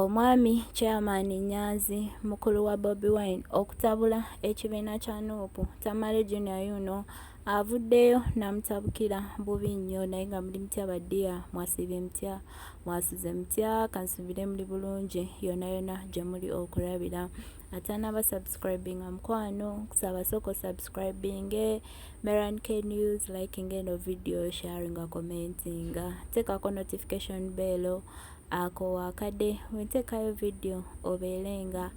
Omwami Chairman Nyanzi mukulu wa Bobi Wine okutabula ekibiina kya nup Tamale Junior Yuno avuddeyo namutabukira bubi nnyo naye nga muli mutya badiya mwasiibye mutya mwasuze mutya kansubire muli bulungi yona yona gye muli okulabira atanaba subscribing amukwano kusaba soko subscribing meran k news liking eno video sharing commenting tekako notification bello Ako wakade wentekayo video obeere nga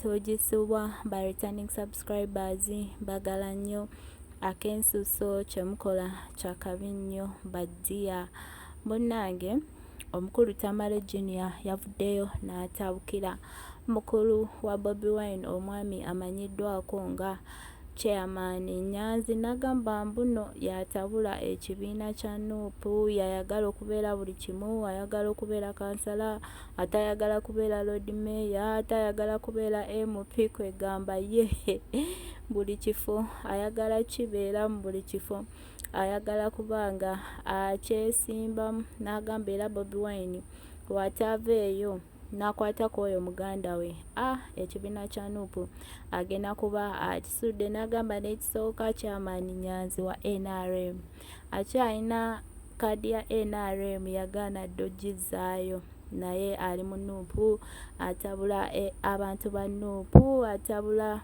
togisubwa ba returning subscribers bagala nnyo akensuso kyemukola kyakabi nnyo badiya munnange omukulu tamale junior yavuddeyo n'atabukira mukulu wa bobi wine omwami amanyiddwako nga na Chairman Nyanzi nagamba mbuno yatabula ekibiina kya nup yayagala okubeera buli kimu ayagala okubeera kansala atayagala kubeera lord mayor atayagala kubeera mp kwegamba ye buli kifo ayagala kibeera mu buli kifo ayagala kubanga akyesimbamu nagamba era bobi wine wataava eyo nakwata kwoyo muganda we a ah, ekibiina kya nupu agenda kuba akisudde nagamba nekisooka kyamaani nyanzi wa nrm akyalina kaadi ya nrm yagaana dda ogizzaayo naye ali mu nupu atabula eh, abantu ba nupu atabula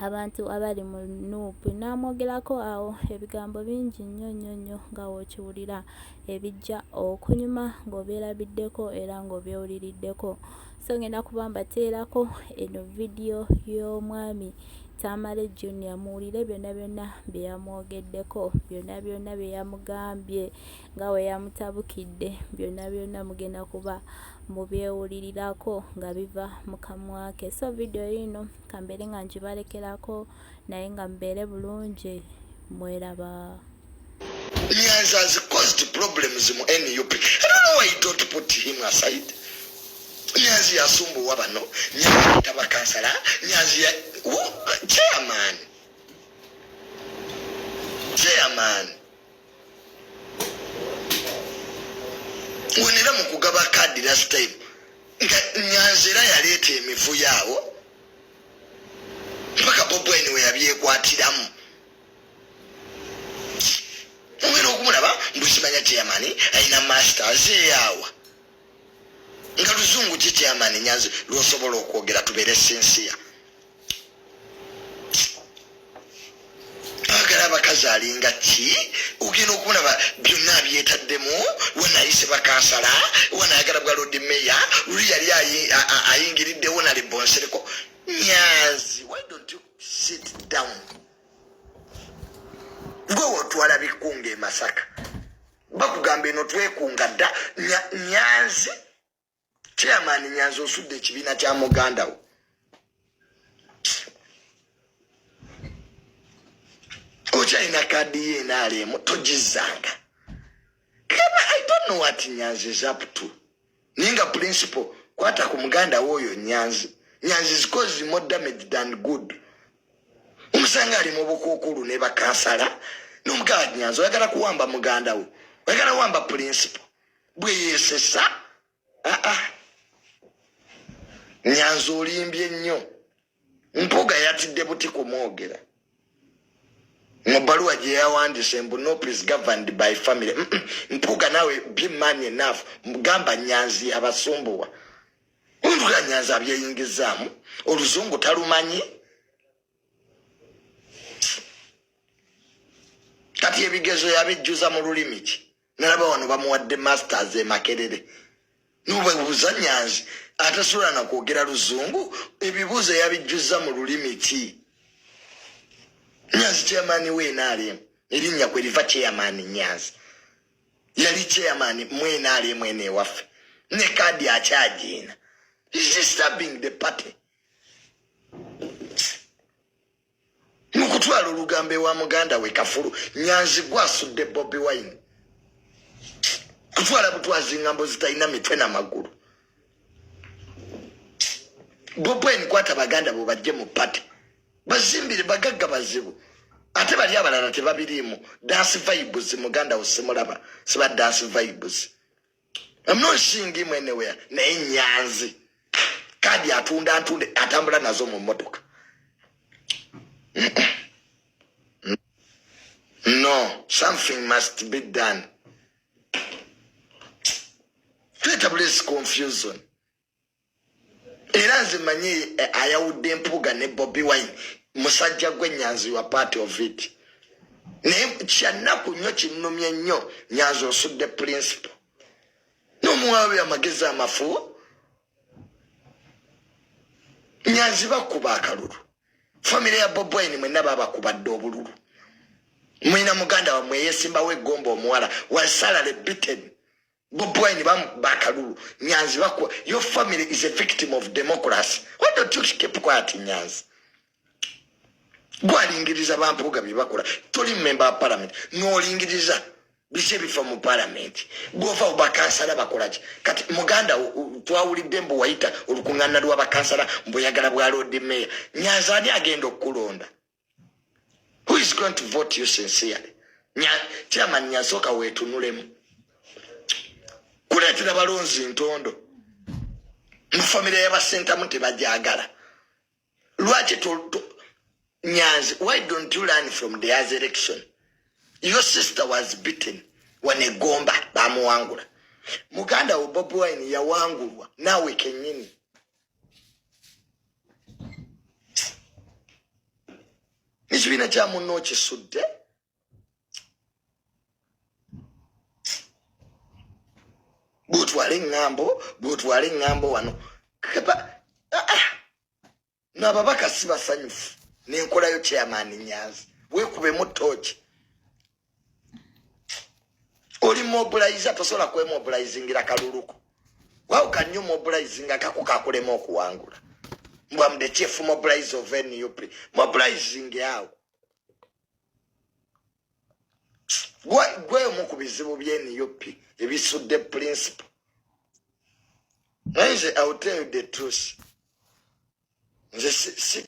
abantu abali mu nup n'amwogerako awo ebigambo bingi nnyo nnyo nnyo nga w'okiwulira ebijja okunyuma ng'obyerabiddeko era ng'obyewuliriddeko so ngenda kuba mbateerako eno vidiyo y'omwami tamale junior muwulire byonna byonna bye yamwogeddeko byonna byonna bye yamugambye nga bwe yamutabukidde byonna byonna mugenda kuba mubyewulirirako nga biva mu kamwa ke so vidiyo yiino kambeere nga ngibalekerako naye nga mubeere bulungi mweraba Nyanzi has caused problems mu NUP. I don't know why you don't put him aside. Nyanzi yasumbuwa bano, Nyanzi yataba kansala, Nyanzi ya... Chairman. Chairman. wenera mu kugaba kaadi last time nga nyanzi era yaleeta emivuyo awo mpaka bobwine weyabyekwatiramu ogenda okumulaba mbukimanya chairmani alina masters eyawa nga luzungu ki chairmani nyanzi lwosobola okwogera tubeere sinsiya bagala abakazi alinga ki ogenda okulaba byonna abyetaddemu wanayise bakansala wanayagala bwa lodi meya luli yali ayingiriddewo nalibonsereko nyazi why don't you sit down gwe wotwala bikunga emasaka bakugamba eno twekunga dda nyanzi chairman nyanza osudde ekibiina kya muganda wo okyalina kaadi ye enaalemu togizanga kama i don't know what nyanzi is up to naye nga principal kwata ku muganda wo oyo nyanzi nyanzi is cause more damage than good omusanga ali mu bukuukulu ne bakansala nomugala nyanzi oyagala kuwamba muganda wo oyagala wamba principal bwe yeesesa aa nyanzi olimbye nnyo mpuga yatidde buti kumwogera mu bbaluwa gye yawandise mbu nop is governed by family mpuga nawe be man enough gamba nyanzi abasumbuwa mpuga nyanzi abyeyingizaamu oluzungu talumanyi kati ebigezo yabijjuza mu lulimi ki nalaba wano bamuwadde masters emakerere nobebuuza nyanzi atasobola nakwogera luzungu ebibuuzo yabijjuzza mu lulimi ki nyanzi chairmani we nrm erinnya kwe liva chairmani nyanzi yali chairmani mu nrm eno ewaffe ne kaadi akyagiina is disturbing the party nokutwala olugambo ewa muganda we kafulu nyanzi gwasudde bobi wine kutwala butwazi ngambo zitalina mitwe na magulu bobi wine kwata baganda bo bajje mu pate bazimbire bagagga bazibu ate bali abalala tebabiriimu dansi vibes muganda wo simulaba siba dansi vibes I'm not seeing him anywhere. Naye nyanzi. Kadi atunda antunde atambula nazo mu motoka. No, something must be done. Peter, please confusion. era nze manyi eh, ayawudde mpuuga ne bobi wine musajja gwe nyanzi wa part of it naye kyannaku nnyo kinnumye nnyo nyanzi osudde principle nomuwabi amagezi amafu nyanzi bakuba akalulu famire ya bobi wine mwenna babakubadde obululu mwina muganda wamwe yesimbawo egomba omuwala wasalale bitten bob wine bamukuba akalulu nyanzi bakuba your family is a victim of democracy why don't you keep quiet nyanzi gwalingiriza bampuuga byebakola toli mumemba wa palamenti nolingiriza no biki ebifa mu palamenti gwova bakansala bakolaki kati muganda twawulidde mbu wayita olukuŋŋaana lwa bakansala mbuyagala bwa loodi meeya nyanza ani agenda okukulonda who is going to vote you sincerely chairman nyasoka wetunulemu kuleetera balonzi ntondo mu famire yabasentamu tebajagala lwaki nyanzi why don't you learn from the as election your sister was beaten wanegomba bamuwangula muganda wo bobi wine yawangulwa naawe kenyini ekibiina kya munno okisudde bwotwala eŋŋambo bwotwala eŋŋambo wano ah, ah. nababaka si basanyufu nenkolayo chairman nyanzi wekubemu tooki oli mobilize tosobola kwemobilizingira kaluluko how can you mobilize nga kako kakulema okuwangula mbwa mde chief mobilize of nup mobilizing awo gwe omu ku bizibu bye nup ebisudde principle nze i will tell you the truth nze si